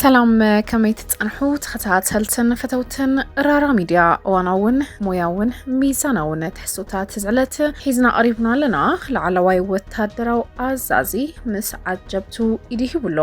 ሰላም ከመይ ትጸንሑ ተኸታተልትን ፈተውትን ራራ ሚድያ እዋናውን ሞያውን ሚዛናውን ትሕዝቶታት ዝዕለት ሒዝና ቀሪብና ኣለና። ላዕለዋይ ወታደራዊ ኣዛዚ ምስ ዓጀብቱ ኢዱ ሂቡሎ።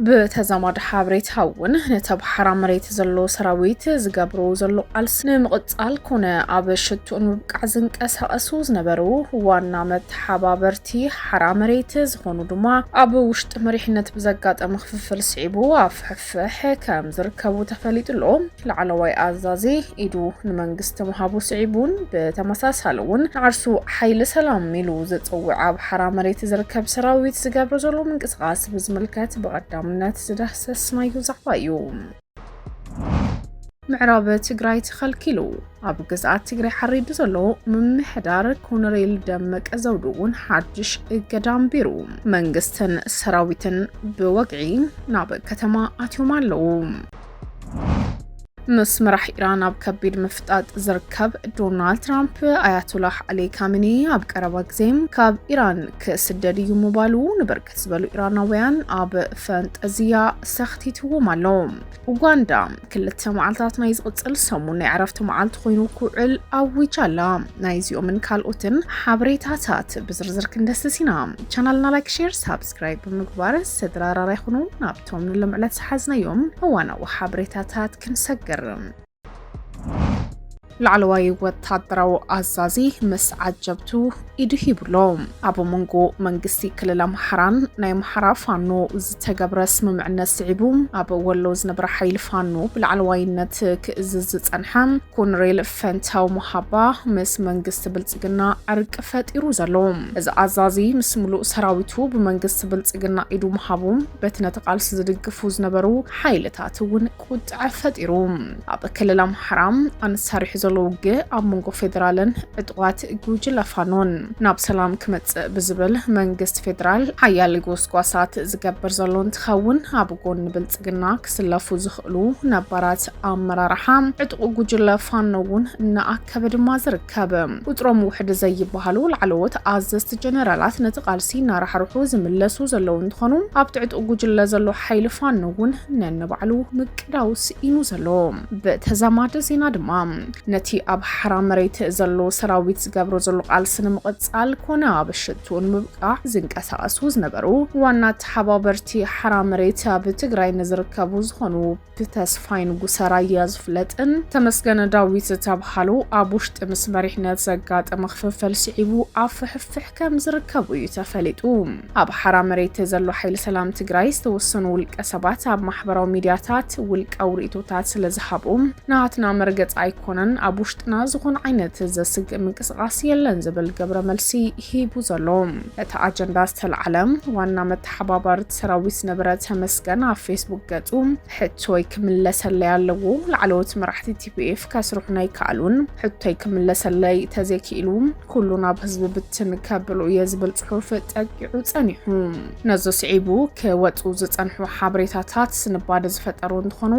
ብተዛማዲ ሓበሬታ እውን ነቲ ኣብ ሓራ መሬት ዘሎ ሰራዊት ዝገብሮ ዘሎ ቃልሲ ንምቕጻል ኮነ ኣብ ሽትኡ ንምብቃዕ ዝንቀሳቐሱ ዝነበሩ ዋና መተሓባበርቲ ሓራ መሬት ዝኾኑ ድማ ኣብ ውሽጢ መሪሕነት ብዘጋጠመ ክፍፍል ስዒቡ ኣብ ፍሕፍሕ ከም ዝርከቡ ተፈሊጡ ኣሎ። ላዕለዋይ ኣዛዚ ኢዱ ንመንግስቲ ምሃቡ ስዒቡን ብተመሳሳሊ እውን ንዓርሱ ሓይሊ ሰላም ኢሉ ዝጽውዕ ኣብ ሓራ መሬት ዝርከብ ሰራዊት ዝገብሮ ዘሎ ምንቅስቓስ ፕሮጀክት ብዝምልከት ብቐዳምነት ዝዳህሰስ ናዩ ዛዕባ እዩ። ምዕራብ ትግራይ ተኸልኪሉ ኣብ ግዝኣት ትግራይ ሓሪዱ ዘሎ ምምሕዳር ኮነሬል ደመቀ ዘውዱ እውን ሓድሽ እገዳ ኣንቢሩ መንግስትን ሰራዊትን ብወግዒ ናብ ከተማ ኣትዮም ኣለዉ። ምስ መራሕ ኢራን ኣብ ከቢድ ምፍጣጥ ዝርከብ ዶናልድ ትራምፕ ኣያቶላህ ዓሊ ካሚኒ ኣብ ቀረባ ግዜ ካብ ኢራን ክስደድ እዩ ምባሉ ንብርክ ዝበሉ ኢራናውያን ኣብ ፈንጠዝያ ሰኽቲትዎም ኣሎ። ኡጋንዳ ክልተ መዓልታት ናይ ዝቕፅል ሰሙን ናይ ዕረፍቲ መዓልቲ ኮይኑ ክውዕል ኣዊጃ ኣላ። ናይዚኦምን ካልኦትን ሓበሬታታት ብዝርዝር ክንደስስ ኢና። ቻናልና ላይክ፣ ሼር፣ ሳብስክራይብ ብምግባር ስድራራራ ይኹኑ። ናብቶም ንልምዕለት ዝሓዝናዮም እዋናዊ ሓበሬታታት ክንሰግር ላዕለዋይ ወታደራዊ ኣዛዚ ምስ ዓጀብቱ ኢዱ ሂብሎ ኣብ መንጎ መንግስቲ ክልል ኣምሓራን ናይ ኣምሓራ ፋኖ ዝተገብረ ስምምዕነት ስዒቡ ኣብ ወሎ ዝነበረ ሓይሊ ፋኖ ብላዕለዋይነት ክእዝዝ ዝጸንሐ ኮንሬል ፈንታው መሃባ ምስ መንግስቲ ብልጽግና ዕርቂ ፈጢሩ ዘሎ እዚ ኣዛዚ ምስ ምሉእ ሰራዊቱ ብመንግስቲ ብልጽግና ኢዱ ምሃቡ በቲ ነቲ ቃልሲ ዝድግፉ ዝነበሩ ሓይልታት እውን ቁጠዐ ፈጢሩ ኣብ ክልል ኣምሓራ ኣንሳሪሑ ዘሎ ውግእ ኣብ መንጎ ፌዴራልን ዕጡቓት ጉጅለ ፋኖን ናብ ሰላም ክመፅእ ብዝብል መንግስቲ ፌዴራል ሓያል ጎስጓሳት ዝገብር ዘሎ እንትኸውን ኣብ ጎኒ ብልፅግና ክስለፉ ዝኽእሉ ነባራት ኣመራርሓ ዕጡቕ ጉጅለ ፋኖ እውን እናኣከበ ድማ ዝርከብ ካብ ቁፅሮም ውሕድ ዘይበሃሉ ላዕለዎት ኣዘዝቲ ጀነራላት ነቲ ቃልሲ እናራሕርሑ ዝምለሱ ዘለዉ እንትኾኑ ኣብ ትዕጥቑ ጉጅለ ዘሎ ሓይሊ ፋኖ እውን ነንባዕሉ ምቅዳው ስኢኑ ዘሎ። ብተዛማዲ ዜና ድማ ነቲ ኣብ ሓራ መሬት ዘሎ ሰራዊት ዝገብሮ ዘሎ ቃልሲ ንምቕፃል ኮነ ኣብ ሽትኡ ንምብቃዕ ዝንቀሳቐሱ ዝነበሩ ዋና ተሓባበርቲ ሓራ መሬት ኣብ ትግራይ ንዝርከቡ ዝኾኑ ብተስፋይ ንጉሰ ራያ ዝፍለጥን ተመስገን ዳዊት ዝተብሃሉ ኣብ ውሽጢ ምስ መሪሕነት ዘጋጠመ ክፍፍል ስዒቡ ኣብ ፍሕፍሕ ከም ዝርከቡ እዩ ተፈሊጡ። ኣብ ሓራ መሬት ዘሎ ሓይሊ ሰላም ትግራይ ዝተወሰኑ ውልቀ ሰባት ኣብ ማሕበራዊ ሚዲያታት ውልቃዊ ርእቶታት ስለ ዝሃቡ ናትና መርገፂ ኣይኮነን ኣብ ውሽጥና ዝኾነ ዓይነት ዘስግእ ምንቅስቓስ የለን ዝብል ገብረ መልሲ ሂቡ ዘሎ እቲ ኣጀንዳ ዝተለዓለ ዋና መተሓባባሪ ሰራዊት ነበረ ተመስገን ኣብ ፌስቡክ ገጹ ሕቶይ ክምለሰለይ ኣለዎ ላዕለዎት መራሕቲ ቲፒኤፍ ከስርሑና ኣይከኣሉን ሕቶይ ክምለሰለይ ተዘይክኢሉ ኩሉ ናብ ህዝቢ ብትን ከብሎ እየ ዝብል ጽሑፍ ጠቂዑ ጸኒሑ ነዚ ስዒቡ ክወጹ ዝጸንሑ ሓበሬታታት ስንባደ ዝፈጠሩ እንትኾኑ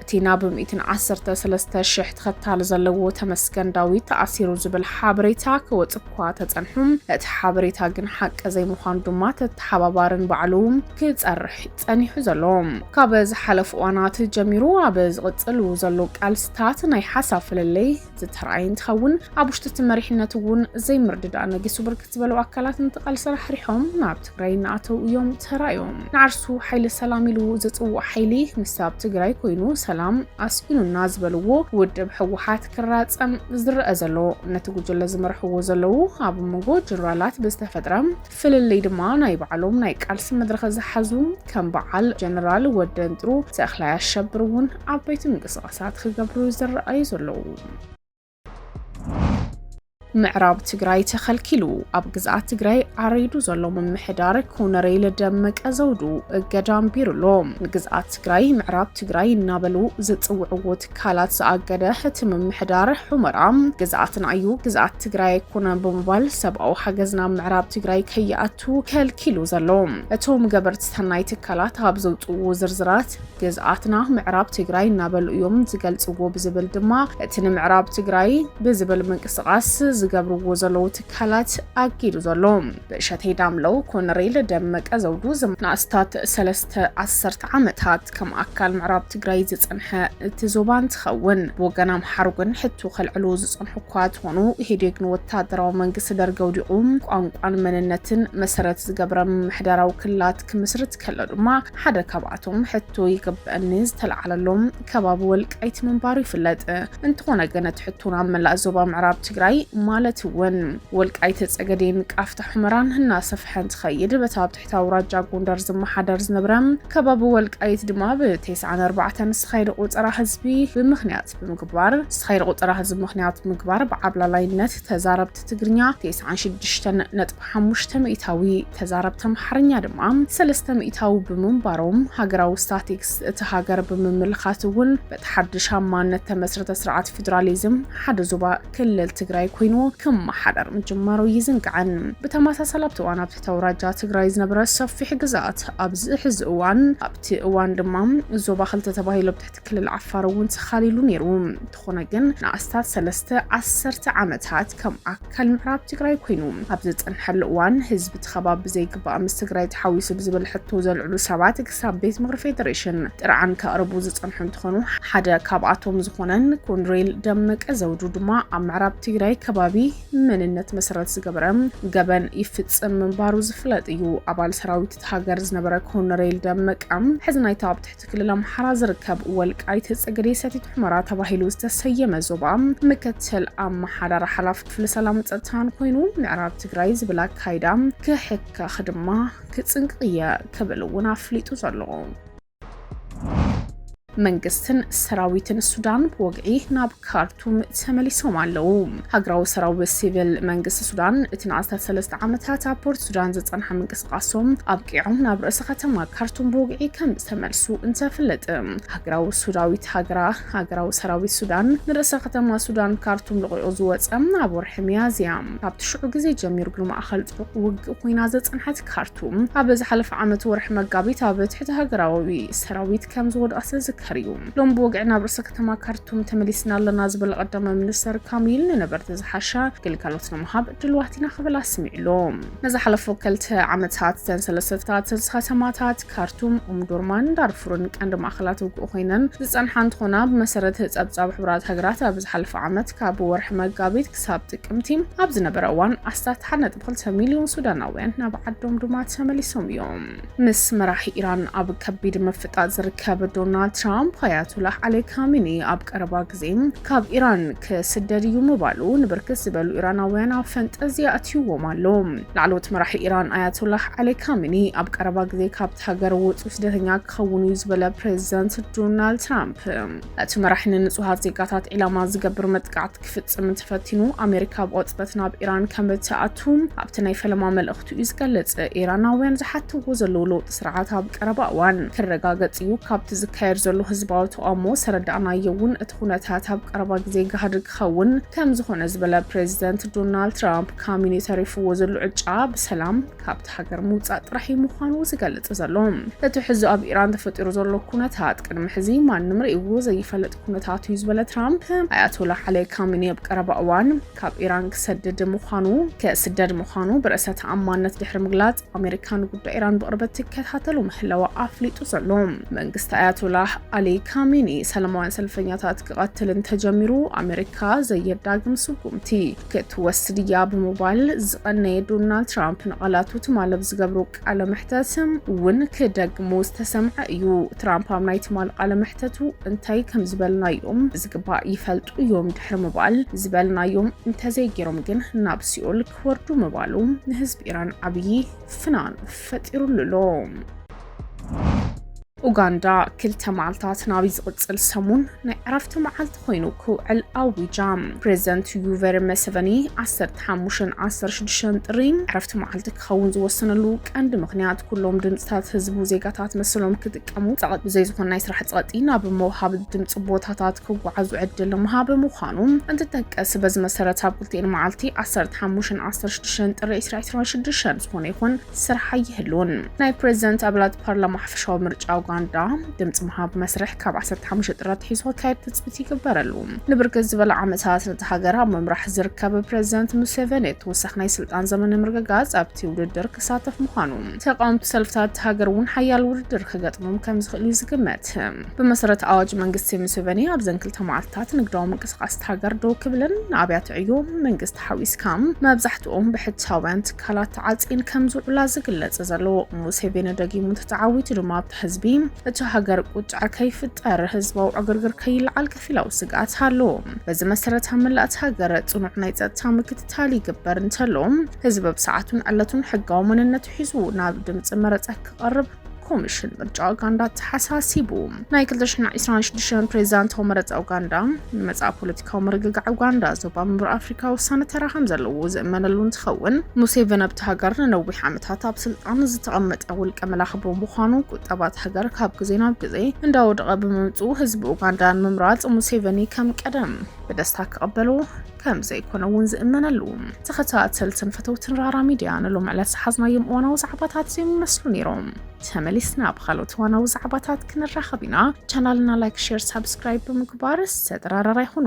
እቲ ናብ ሚእትን ዓሰርተ ሰለስተ ሽሕ ተኸታሊ ዘለዎ ተመስገን ዳዊት ተኣሲሩ ዝብል ሓበሬታ ክወጽእ እኳ ተጸንሑ እቲ ሓበሬታ ግን ሓቂ ዘይምዃኑ ድማ ተተሓባባርን ባዕሉ ክጸርሕ ጸኒሑ ዘሎ ካብ ዝሓለፉ እዋናት ጀሚሩ ኣብ ዝቕጽሉ ዘሎ ቃልስታት ናይ ሓሳብ ፍልልይ ዝተርኣየ እንትኸውን ኣብ ውሽጢ እቲ መሪሕነት እውን ዘይምርድዳእ ነጊሱ ብርክት ዝበሉ ኣካላት ንተቓልሲ ራሕሪሖም ናብ ትግራይ እናኣተው እዮም ተራእዮም። ንዓርሱ ሓይሊ ሰላም ኢሉ ዝፅውዕ ሓይሊ ምስ ኣብ ትግራይ ኮይኑ ሰላም ኣስኢኑና ዝበልዎ ውድብ ህወሓት ክራፀም ዝረአ ዘሎ ነቲ ጉጅለ ዝመርሕዎ ዘለው ኣብ መንጎ ጀነራላት ብዝተፈጥረ ፍልልይ ድማ ናይ ባዕሎም ናይ ቃልሲ መድረኸ ዝሓዙ ከም በዓል ጀነራል ወደንጥሩ፣ ተኽላይ ኣሸብር እውን ዓበይቲ ምንቅስቓሳት ክገብሩ ዝረኣዩ ዘለዉ። ምዕራብ ትግራይ ተኸልኪሉ ኣብ ግዝኣት ትግራይ ዓሪዱ ዘሎ ምምሕዳር ኮነሬል ደመቀ ዘውዱ እገዳ ኣንቢሩሎ። ንግዝኣት ትግራይ ምዕራብ ትግራይ እናበሉ ዝፅውዕዎ ትካላት ዝኣገደ እቲ ምምሕዳር ሑመራ ግዝኣትና እዩ ግዝኣት ትግራይ ኣይኮነን ብምባል ሰብኣዊ ሓገዝ ናብ ምዕራብ ትግራይ ከይኣቱ ከልኪሉ ዘሎ እቶም ገበርቲ ሰናይ ትካላት ኣብ ዘውፅዎ ዝርዝራት ግዝኣትና ምዕራብ ትግራይ እናበሉ እዮም ዝገልፅዎ ብዝብል ድማ እቲ ንምዕራብ ትግራይ ብዝብል ምንቅስቓስ ዝገብርዎ ዘለዉ ትካላት ኣጊዱ ዘሎ ብእሸቴ ዳምለው፣ ኮነሬል ደመቀ ዘውዱ ዝም ንኣስታት ሰለስተ ዓሰርተ ዓመታት ከም ኣካል ምዕራብ ትግራይ ዝጸንሐ እቲ ዞባ እንትኸውን ብወገን ኣምሓሩ ግን ሕቶ ከልዕሉ ዝጸንሑ እኳ ትኾኑ ኢህዴግ ንወታደራዊ መንግስቲ ደርጊ ኣውዲቑ ቋንቋን መንነትን መሰረት ዝገብረ ምምሕዳራዊ ክልላት ክምስርት ከሎ ድማ ሓደ ካብኣቶም ሕቶ ይግበኣኒ ዝተለዓለሎም ከባቢ ወልቃይት ምንባሩ ይፍለጥ። እንተኾነ ግን እቲ ሕቶ ናብ መላእ ዞባ ምዕራብ ትግራይ ማለት እውን ወልቃይት፣ ፀገዴን ቃፍታ ሑመራን እናሰፍሐ እንትኸይድ በታ ኣብ ትሕቲ ኣውራጃ ጎንደር ዝመሓደር ዝነበረ ከባቢ ወልቃይት ድማ ብቴስዓን ኣርባዕተን ዝተኻየደ ቆፀራ ህዝቢ ብምክንያት ብምግባር ዝተኻየደ ቆፀራ ህዝቢ ምክንያት ምግባር ብዓብላላይነት ተዛረብቲ ትግርኛ ቴስዓን ሽዱሽተን ነጥቢ ሓሙሽተ ሚእታዊ፣ ተዛረብቲ ኣምሓርኛ ድማ ሰለስተ ሚእታዊ ብምንባሮም፣ ሃገራዊ ስታቲክስ እቲ ሃገር ብምምልካት እውን በቲ ሓድሽ ኣብ ማነት ተመስረተ ስርዓት ፊድራሊዝም ሓደ ዞባ ክልል ትግራይ ኮይኑ ክመሓደር ምጅማሩ ኣይዝንጋዕን። ብተመሳሳሊ ኣብቲ እዋን ኣብቲ ተውራጃ ትግራይ ዝነበረ ሰፊሕ ግዝኣት ኣብዚ ሕዚ እዋን ኣብቲ እዋን ድማ ዞባ ክልተ ተባሂሉ ኣብ ትሕቲ ክልል ዓፋር እውን ተኻሊሉ ነይሩ። እንተኾነ ግን ንኣስታት ሰለስተ ዓሰርተ ዓመታት ከም ኣካል ምዕራብ ትግራይ ኮይኑ ኣብ ዝፀንሐሉ እዋን ህዝቢ እቲ ከባቢ ብዘይግባእ ምስ ትግራይ ተሓዊሱ ብዝብል ሕቶ ዘልዕሉ ሰባት ክሳብ ቤት ምኽሪ ፌዴሬሽን ጥርዓን ከቕርቡ ዝፀንሑ እንትኾኑ ሓደ ካብኣቶም ዝኾነን ኮንሬል ደመቀ ዘውዱ ድማ ኣብ ምዕራብ ትግራይ ከባቢ መንነት መሰረት ዝገበረ ገበን ይፍፅም ምንባሩ ዝፍለጥ እዩ። ኣባል ሰራዊት እቲ ሃገር ዝነበረ ኮንሬል ደመቀ ሕዚ ናይታ ኣብ ኣብቲ ክልል ኣምሓራ ዝርከብ ወልቃይት ፀገዴ ሰቲት ሑመራ ተባሂሉ ዝተሰየመ ዞባ ምክትል ኣመሓዳሪ ሓላፊ ክፍሊ ሰላምን ፀጥታን ኮይኑ ምዕራብ ትግራይ ዝብል ኣካይዳ ክሕከኽ ድማ ክፅንቅቕ እየ ክብል እውን ኣፍሊጡ ዘሎ መንግስትን ሰራዊትን ሱዳን ብወግዒ ናብ ካርቱም ተመሊሶም ኣለዉ ሃገራዊ ሰራዊት ሲቪል መንግስቲ ሱዳን እቲ ንኣስታት ሰለስተ ዓመታት ኣብ ፖርት ሱዳን ዝፀንሐ ምንቅስ ጥቓሶም ኣብቂዖም ናብ ርእሰ ከተማ ካርቱም ብወግዒ ከም ዝተመልሱ እንተፍለጥ፣ ሃገራዊ ሱዳዊት ሃገራ ሃገራዊ ሰራዊት ሱዳን ንርእሰ ከተማ ሱዳን ካርቱም ለቒቑ ዝወጸ ኣብ ወርሒ ሚያዝያ ካብቲ ሽዑ ግዜ ጀሚሩ ግን ማእከል ጥዑቕ ውግእ ኮይና ዝጸንሐት ካርቱም ኣብ ዝሓለፈ ዓመት ወርሒ መጋቢት ኣብ ትሕቲ ሃገራዊ ሰራዊት ከም ዝወድቐት ዝዝከር እዩ። ሎም ብወግዒ ናብ ርእሰ ከተማ ካርቱም ተመሊስና ኣለና ዝበለ ቀዳማይ ሚኒስተር ካሚል ንነበርቲ ዝሓሸ ግልጋሎት ንምሃብ ድልዋት ኢና ክብል ኣስሚዑ ኣሎ። ንዝሓለፉ ክልተ ዓመታት እተን ሰለስተ ተታተልቲ ከተማታት ካርቱም፣ ኡምዱርማን ዳርፉርን ቀንዲ ማእኸላት ውግእ ኮይነን ዝፀንሓ እንትኾና ብመሰረት ፀብፃብ ሕቡራት ሃገራት ኣብ ዝሓለፈ ዓመት ካብ ወርሒ መጋቢት ክሳብ ጥቅምቲ ኣብ ዝነበረ እዋን ኣስታት ሓደ ነጥቢ ክልተ ሚልዮን ሱዳናውያን ናብ ዓዶም ድማ ተመሊሶም እዮም። ምስ መራሒ ኢራን ኣብ ከቢድ ምፍጣጥ ዝርከብ ዶናልድ ትራምፕ፣ ኣያቶላህ ዓሊ ካሚኒ ኣብ ቀረባ ግዜ ካብ ኢራን ክስደድ እዩ ምባሉ ንብርክት ዝበሉ ኢራናውያን ኣብ ፈንጠዝያ ኣትዩዎም ኣሎ። ላዕለዎት መራሒ ኢራን ኣያቶላህ ዓሊ ካሚኒ ኣብ ቀረባ ግዜ ካብቲ ሃገር ወጹ ስደተኛ ክኸውን እዩ ዝበለ ፕሬዚደንት ዶናልድ ትራምፕ፣ እቲ መራሒ ንንጹሃት ዜጋታት ዒላማ ዝገብር መጥቃዕቲ ክፍጽም እንተፈቲኑ ኣሜሪካ ብቕጽበት ናብ ኢራን ከም እትኣቱ ኣብቲ ናይ ፈለማ መልእኽቱ እዩ ዝገልጽ። ኢራናውያን ዝሓትዎ ዘለዉ ለውጢ ስርዓት ኣብ ቀረባ እዋን ክረጋገጽ እዩ፣ ካብቲ ዝካየድ ዘሎ ህዝባዊ ተቓውሞ ዝተረዳእናዮ እውን እቲ ኩነታት ኣብ ቀረባ ግዜ ጋህዲ ክኸውን ከም ዝኾነ ዝበለ ፕሬዚደንት ዶናልድ ትራምፕ ካሚኒ ተሪፍዎ ዘሎ ዕጫ ብሰላም ካብቲ ሃገር ምውጻእ ጥራሕ እዩ ምዃኑ ዝገልጽ ዘሎ። እቲ ሕዚ ኣብ ኢራን ተፈጢሩ ዘሎ ኩነታት ቅድሚ ሕዚ ማንም ርእይዎ ዘይፈልጥ ኩነታት እዩ ዝበለ ትራምፕ፣ ኣያቶላ ዓሊ ካሚኒ ኣብ ቀረባ እዋን ካብ ኢራን ክሰድድ ምዃኑ ክስደድ ምዃኑ ብርእሰ ተኣማንነት ድሕሪ ምግላጽ ኣሜሪካ ንጉዳይ ኢራን ብቕርበት ትከታተሉ ምህላዋ ኣፍሊጡ ዘሎ መንግስቲ ኣያቶላ ዓሊ ካሚኒ ሰላማውያን ሰልፈኛታት ክቐትል እንተጀሚሩ ኣሜሪካ ዘየዳግም ስጉምቲ ክትወስድ እያ ብምባል ዝቐነየ ዶናልድ ትራምፕ ንቓላቱ ትማል ኣብ ዝገብሮ ቃለ መሕተት እውን ክደግሙ ዝተሰምዐ እዩ። ትራምፕ ኣብ ናይ ትማል ቃለ መሕተቱ እንታይ ከም ዝበልናዮም ብዝግባእ ይፈልጡ እዮም ድሕሪ ምባል ዝበልናዮም እንተዘይገይሮም ግን ናብ ሲኦል ክወርዱ ምባሉ ንህዝቢ ኢራን ዓብዪ ፍናን ፈጢሩሉ ኣሎ። ኡጋንዳ ክልተ መዓልታት ናብይ ዝቕጽል ሰሙን ናይ ዕረፍቲ መዓልቲ ኮይኑ ክውዕል ኣዊጃ ፕሬዚደንት ዩቨሪ መሰቨኒ 15 16 ጥሪ ዕረፍቲ መዓልቲ ክኸውን ዝወሰነሉ ቀንዲ ምክንያት ኩሎም ድምፅታት ህዝቡ ዜጋታት መሰሎም ክጥቀሙ ፀቐጥ ብዘይ ዝኾነ ናይ ስራሕ ፀቕጢ ናብ መውሃቢ ድምፂ ቦታታት ክጓዓዙ ዕድል ንምሃብ ምዃኑ እንትጠቀስ በዚ መሰረት ኣብ ክልቲኤን መዓልቲ 15 16 ጥሪ 2026 ዝኾነ ይኹን ስራሕ ኣይህልውን። ናይ ፕረዚደንት ኣባላት ፓርላማ ሓፈሻዊ ምርጫ ኡጋንዳ ድምፂ ምሃብ መስርሕ ካብ 15 ጥሪ ኣትሒዙ ክካየድ ትፅቢት ይግበረሉ። ንብርክት ዝበለ ዓመታት ነቲ ሃገር ኣብ ምምራሕ ዝርከብ ፕረዚደንት ሙሴቨኒ ተወሳኺ ናይ ስልጣን ዘመን ንምርግጋፅ ኣብቲ ውድድር ክሳተፍ ምዃኑ ተቃወምቲ ሰልፍታት እታ ሃገር እውን ሓያል ውድድር ክገጥሞም ከም ዝኽእል እዩ ዝግመት። ብመሰረት ኣዋጅ መንግስቲ ሙሴቨኒ ኣብዘን ክልተ መዓልትታት ንግዳዊ ምንቅስቓስ እታ ሃገር ደው ክብልን ንኣብያተ ዕዮ መንግስቲ ሓዊስካ መብዛሕትኦም ብሕታውያን ትካላት ተዓጽየን ከም ዝውዕላ ዝግለጽ ዘሎ ሙሴቬኒ ደጊሙ ተተዓዊቱ ድማ ኣብቲ ህዝቢ እቲ ሃገር ቁጥዐ ከይፍጠር ህዝባዊ ዕግርግር ከይለዓል ከፊላዊ ስግኣት ኣሎ። በዚ መሰረት ኣብ መላእ እቲ ሃገር ጽኑዕ ናይ ጸጥታ ምክትታል ይግበር እንተሎ ህዝቢ ብሰዓቱን ዕለቱን ሕጋዊ መንነቱ ሒዙ ናብ ድምጺ መረጻ ክቐርብ ኮሚሽን ምርጫ ኡጋንዳ ተሓሳሲቡ ናይ 226 ፕሬዚዳንታዊ መረፃ ኡጋንዳ ንመፃእ ፖለቲካዊ ምርግጋዕ ኡጋንዳ ዞባ ምብራቅ ኣፍሪካ ወሳኒ ተራ ከም ዘለዎ ዝእመነሉ እንትኸውን ሙሴቨን ኣብቲ ሃገር ንነዊሕ ዓመታት ኣብ ስልጣን ዝተቐመጠ ውልቀ መላኺ ብምዃኑ ቁጠባት ሃገር ካብ ግዜ ናብ ግዜ እንዳወደቐ ብምምፅኡ ህዝቢ ኡጋንዳ ንምምራፅ ሙሴቨኒ ከም ቀደም ብደስታ ክቐበሉ ከም ዘይኮነ እውን ዝእመነሉ። ተኸታተልትን ፈተውትን ራራ ሚድያ ንሎም ዕለት ዝሓዝናዮም እዋናዊ ዛዕባታት እዮም ይመስሉ ነይሮም። ተመሊስና ብካልኦት እዋናዊ ዛዕባታት ክንራኸብ ኢና። ቻናልና ላይክ፣ ሼር፣ ሳብስክራይብ ብምግባር ዝተጠራረራ ይኹኑ።